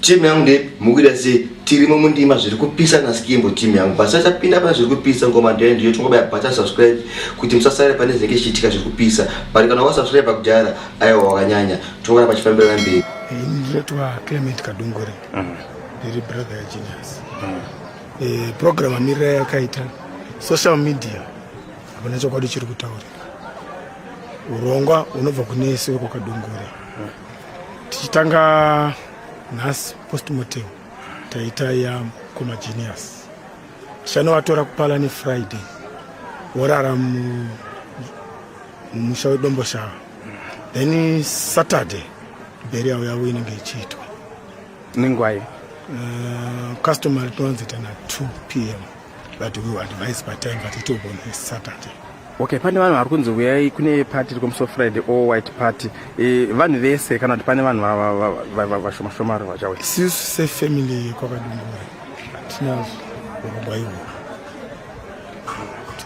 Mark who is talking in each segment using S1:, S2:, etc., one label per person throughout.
S1: Team yangu ndepi mukuita sei tirimo mundima zviri kupisa naskimbo team yangu basa tapinda pane zviri kupisa ngoma ndiyo ndiyo tongobaya bata subscribe kuti musasare pane zvinenge zvichiitika zviri kupisa but kana wasubscribe kudhara aiwa wakanyanya tongora pachifambira namberi ndinoitwa clement kadungure mm. ndiri brother yagenius mm. eh, program amirira yakaita social media hapana chokwadi chiri kutaurika urongwa unobva kune isi wekokadungure mm. tichitanga nhasi postmortem taita ya koma genius tichanovatora kupala nefriday vorara mumusha wedomboshava then saturday berial yavo inenge ichiitwa nengwai uh, eh, customer rinowanzoita na 2 p m But we will advise by time but it will be on Saturday. Okay, pane vanhu vari kunzi uyai kune party iri kumuso Friday all white party. E, vanhu vese kana kuti pane vanhu vashoma shoma vachauya. Sisu se family kwakadungura. Tina urongwa iwo.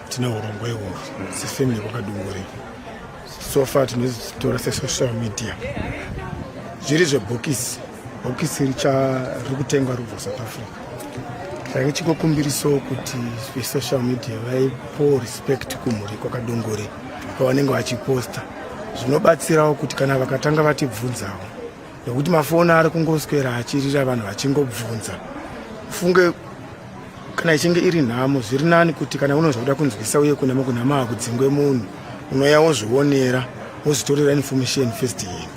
S1: Tina urongwa iwo. Se family kwakadungura. So far tinotora se social media. Zviri zvebhokisi. bhokisi richari kutengwa rubva south africa chake chikokumbiriso kuti vesocial media vaipo respect kumhuri kwakadongore kwavanenge vachiposta zvinobatsirawo kuti kana vakatanga vatibvunzawo nekuti mafoni ari kungoswera achirira vanhu vachingobvunza funge kana ichinge iri nhamo zviri nani kuti kana unonzwa kuda kunzwisa uye kunama kunama hakudzingwe munhu unoya wozvionera wozvitorera information first hand